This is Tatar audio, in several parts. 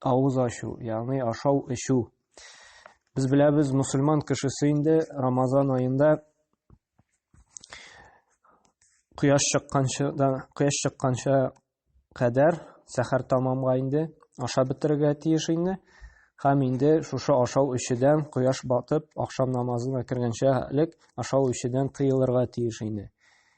Авыз ачу, ягъни ашау, эчү. Без беләбез, мусульман кешесе инде Рамазан аенда кояш чыкканча да кояш чыкканча кадәр сәхәр тамамга инде ашап бетерергә тиеш инде. Һәм инде шушы ашау эчүдән кояш батып, ахшам намазына кергәнчә элек ашау эчүдән тыелырга тиеш инде.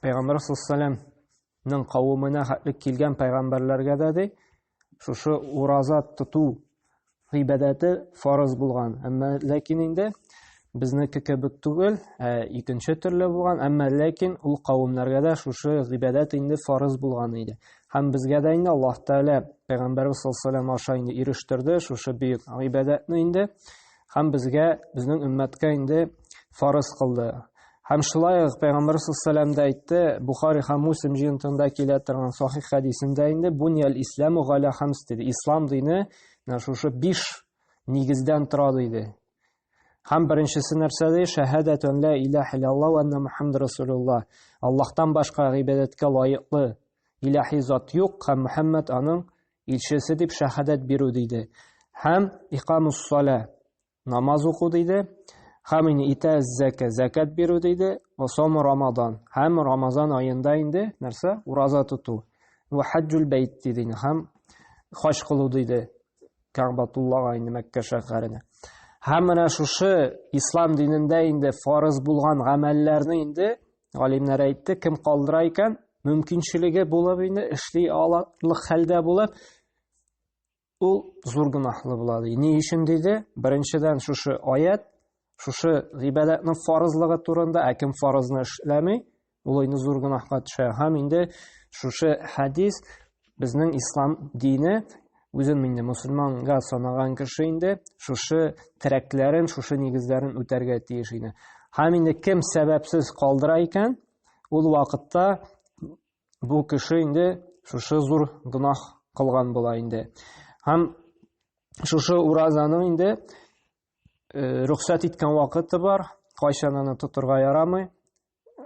Пәйгамбәр саллаллаһу кавымына хәтле килгән пәйгамбәрләргә дә ди, шушы ураза тоту гыйбадәте фарыз булган. Әмма ләкин инде безнеке кебек түгел, ә икенче төрле булган, әмма ләкин ул кавымнарга да шушы гыйбадәт инде фарыз булган иде. Һәм безгә дә инде Аллаһ Тәгалә пәйгамбәрбез саллаллаһу алейһи ва аша инде ирештерде шушы бөек гыйбадәтне инде. һәм безгә, безнең өммәткә инде фарыз кылды. Һәм шулай ук Пәйгамбәр саллаллаху да әйтте, Бухари һәм Муслим җыентыгында килә торган сахих хәдисендә инде бунияль исламу галя хамс диде. Ислам дине менә шушы биш нигездән тора диде. Һәм беренчесе нәрсә ди? Шәһадәтун ла илаһа иллаллаһу ва анна Мухаммад расулуллаһ. Аллаһтан башка гыйбадәткә лаеклы илаһи зат юк һәм Мухаммад аның илчесе дип шәһадәт бирү диде. Һәм икамус салә намаз уку диде. Һәм ин итә зәкә зәкәт бирү диде. Ва сому рамадан. Һәм рамазан аенда инде нәрсә? Ураза тоту. Ва хаҗҗул бәйт диде. Һәм хаҗ кылу диде. Кәгъбатуллага инде Мәккә шәһәренә. Һәм менә шушы ислам динендә инде фарыз булган гамәлләрне инде Галимнәр әйтте, кем калдыра икән, мөмкинчелеге булып инде эшли алырлык хәлдә булып, ул зур гөнаһлы була ди. Ни өчен диде? Беренчедән шушы аят, шушы гыйбадәтнең фарызлыгы турында, ә кем фарызны эшләми, ул инде зур гөнаһка төшә. Һәм инде шушы хәдис Безнең ислам дине үзен инде мусульманга санаган кеше инде шушы терәкләрен, шушы нигезләрен үтәргә тиеш иде. Һәм инде кем сәбәпсез калдыра икән, ул вакытта бу кеше инде шушы зур гөнаһ кылган була инде. Һәм шушы уразаның инде э, рөхсәт иткән вакыты бар, кайчан аны тотырга ярамый,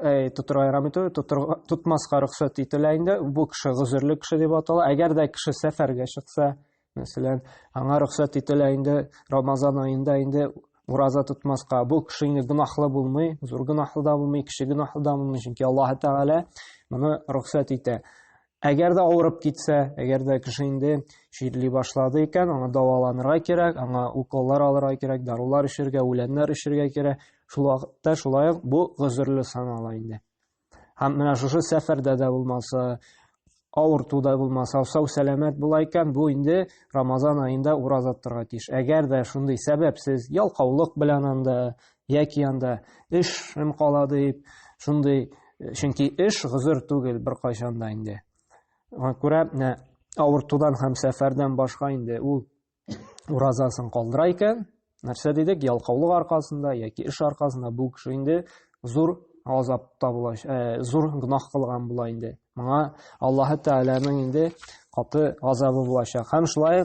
Әй, тутырга ярамый түгел, тутырга, тутмаска рөхсәт ителә инде. Бу кеше гозерле кеше дип атала. Әгәр дә кеше сәфәргә чыкса, мәсәлән, аңа рөхсәт ителә инде Рамазан аенда инде ураза тотмаска. Бу кеше инде гынахлы булмый, зур гынахлы да булмый, кеше гынахлы да булмый, чөнки Аллаһ Тәгалә моны рөхсәт итә. Әгәр дә авырып китсә, әгәр дә кеше инде чирли башлады икән, аңа дәваланырга кирәк, аңа уколлар алырга кирәк, дарулар эчергә, үләннәр эчергә кирәк. Шул вакытта шулай ук бу гозерле санала инде. Һәм менә шушы сәфәрдә дә булмаса, авыртуда булмаса, сау сәламәт була икән, бу инде Рамазан аенда ураза тотарга тиеш. Әгәр дә шундый сәбәпсез ялкаулык белән анда яки анда эшем кала дип шундый чөнки эш гозер түгел беркайчан да инде аңа күрә менә авыртудан һәм сәфәрдән башка инде ул уразасын калдыра икән нәрсә дидек ялкаулык аркасында яки эш аркасында бу кеше инде зур азапта була ә, зур гөнаһ кылган була инде моңа аллаһы тәгаләнең инде каты газабы булачак һәм шулай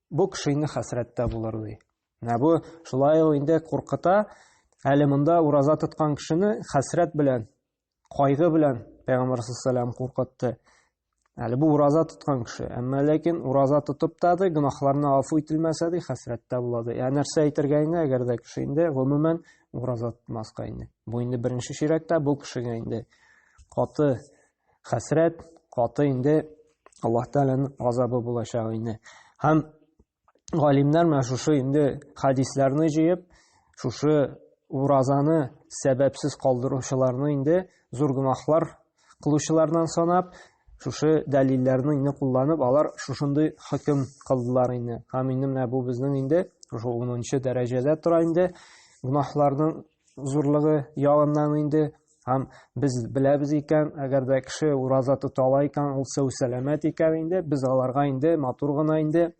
Бу кешене хәсрәттә булыр ди. Менә бу шулай ул инде куркыта. Әле монда ураза тоткан кешене хәсрәт белән, кайгы белән Пәйгамбәр саллаллаху куркытты. Әле бу ураза тоткан кеше, әмма ләкин ураза тотып та ди, гөнаһларына афу ителмәсә ди, хәсрәттә була ди. Ә нәрсә әйтергә инде, әгәр дә кеше инде гомумән ураза тотмаска инде. Бу инде беренче чирәктә бу кешегә инде каты хәсрәт каты инде аллаһ тәгаләнең газабы булачак инде һәм галимнәр менә шушы инде хәдисләрне җыеп шушы уразаны сәбәпсез калдыручыларны инде зур гөнаһлар кылучылардан санап шушы дәлилләрне инде кулланып алар шушындый хөкем кылдылар инде һәм инде менә бу безнең инде шушы унынчы дәрәҗәдә тора инде гөнаһларның зурлыгы ягыннан инде һәм без беләбез икән, әгәр дә кеше ураза тота ала икән, ул сау сәламәт икән инде, без аларга инде матур гына инде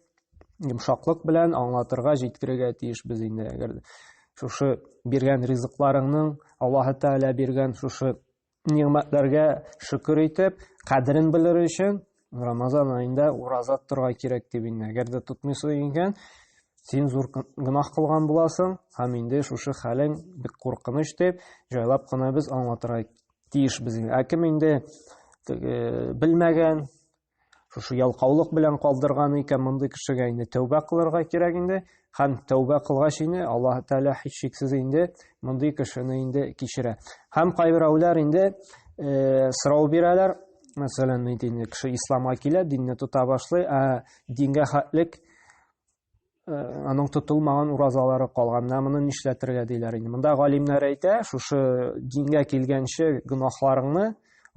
йомшаклык белән аңлатырга, җиткерергә тиешбез инде. Әгәр шушы биргән ризыкларыңның, Аллаһы Тәгалә биргән шушы Нигъмәтләргә шөкер итеп, кадерен белер өчен Рамазан аенда ураза торга кирәк дип инде. Әгәр дә тотмыйсың икән, син зур гөнаһ кылган буласың һәм инде шушы хәлең бик куркыныч дип җайлап кына без аңлатырга тиешбез. Ә кем инде белмәгән, Шушы ялкаулык белән калдырган икән мондый кешегә инде тәүбә кылырга кирәк инде һәм тәүбә кылгач инде Аллаһ Тәгалә һичшиксез инде мондый кешене инде кичерә. Һәм кайберәүләр инде э, сорау бирәләр, мәсәлән, инде кеше исламга килә, динне тота башлый, ә дингә хәтлек аның тотылмаган уразалары калганнар моны нишләтергә диләр инде монда галимнәр әйтә шушы дингә килгәнче гөнаһларыңны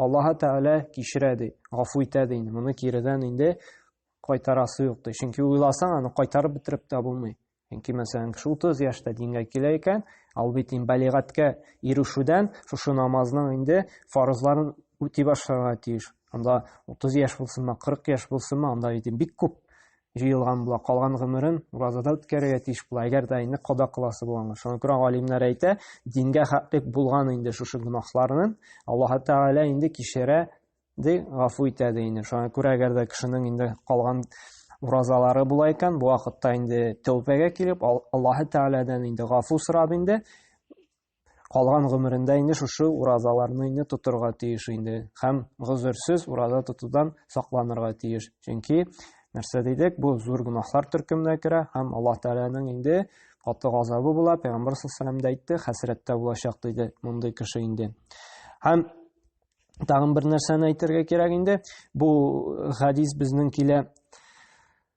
аллаһы тәгалә кичерә ди гафу итә ди инде моны киредән инде кайтарасы юк ди чөнки уйласаң аны кайтарып бетереп тә булмый чөнки мәсәлән кеше утыз яшьтә дингә килә икән ал бит инде балигатькә ирешүдән шушы намазның инде фарызларын үти башларга тиеш анда утыз яшь булсынмы кырык яшь булсынмы анда бит бик күп җыелган була, калган гомерен уразада үткәрергә тиеш була, әгәр дә инде када кыласы булганда. Шуңа күрә галимнәр әйтә, дингә хәтлек булган инде шушы гөнаһларны Аллаһ Тәгалә инде кичерә, ди, гафу итә ди инде. Шуңа күрә әгәр дә кешенең инде калган уразалары була икән, бу вакытта инде тәүбәгә килеп, Аллаһ Тәгаләдән инде гафу сорап инде калган гомерендә инде шушы уразаларны инде тотырга тиеш инде һәм гозерсез ураза тотудан сакланырга тиеш. Чөнки нәрсә дидек, бу зур гөнаһлар төркеменә керә һәм Аллаһ Тәгаләнең инде каты газабы була, пәйгамбер саллаллаху алейһи әйтте, хәсрәттә булачак диде мондый кеше инде. Һәм тагын бер нәрсәне әйтергә кирәк инде, бу хадис безнең килә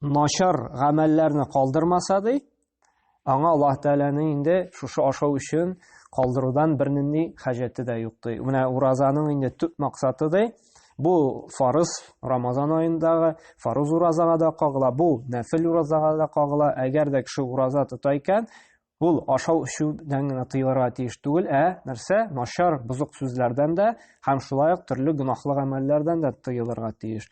начар гамәлләрне калдырмаса ди, аңа Аллаһ Тәгаләнең инде шушы ашау өчен калдырудан бернинди хаҗәте дә юк ди. Менә уразаның инде төп максаты ди, бу фарыз Рамазан аендагы фарыз уразага да кагыла, бу нәфил уразага да кагыла. Әгәр дә кеше ураза тота икән, Ул ашау-эчүдән генә тыелырга тиеш түгел, ә нәрсә? Начар, бозык сүзләрдән дә һәм шулай ук төрле гөнаһлы гамәлләрдән дә тыелырга тиеш.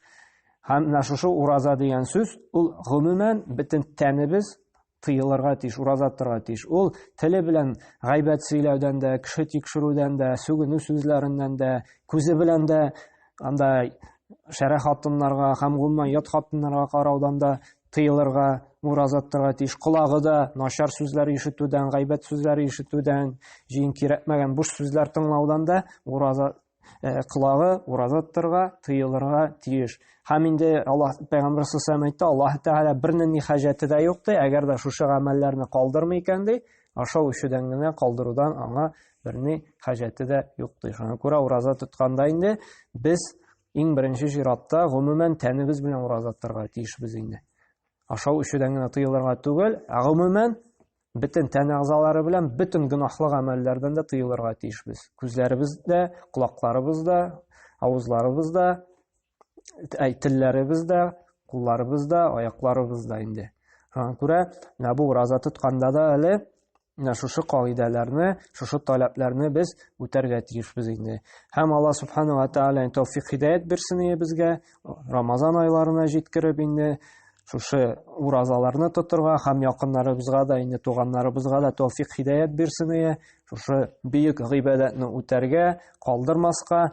Һәм менә шушы ураза дигән сүз, ул гомумән бөтен тәнебез тыелырга тиеш, ураза торырга тиеш. Ул теле белән гайбәт сөйләүдән дә, кеше тикшерүдән дә, сүгенү сүзләреннән дә, күзе белән дә анда шәрә хатыннарга һәм гомумән ят хатыннарга караудан да тыелырга, муразат торга тиеш. Колагы да начар сүзләр ишетүдән, гайбәт сүзләр ишетүдән, җыен кирәкмәгән буш сүзләр тыңлаудан да ураза э, колагы уразат торга, тыелырга тиеш. Һәм инде Аллаһ пәйгамбәр саллаллаху әйтте, Аллаһ Тәгалә бернең ни хаҗәте дә юк ди, әгәр дә шушы гамәлләрне калдырмый икән ди, ашау ишүдән генә калдырудан аңа берни хаҗәте дә юк ди. Шуңа күрә ураза тотканда инде без Иң беренче чиратта, гомумән, тәнебез белән ураза тотарга тиешбез инде. Ашау эчүдән генә тыелырга түгел, ә гомумән, бөтен тән әгъзалары белән бөтен гөнаһлы гамәлләрдән дә тыелырга тиешбез. Күзләребез дә, колакларыбыз да, авызларыбыз да, телләребез дә, кулларыбыз да, аякларыбыз да инде. Шуңа күрә менә бу ураза тотканда да әле Менә шушы кагыйдәләрне, шушы таләпләрне без үтәргә тиешбез инде. Һәм Алла субхана ва тааля тәүфик хидәят бирсен безгә, Рамазан айларына җиткереп инде шушы уразаларны тотырга һәм якыннарыбызга да инде туганнарыбызга да тәүфик хидәят бирсен шушы бөек гыйбадәтне үтәргә, калдырмаска.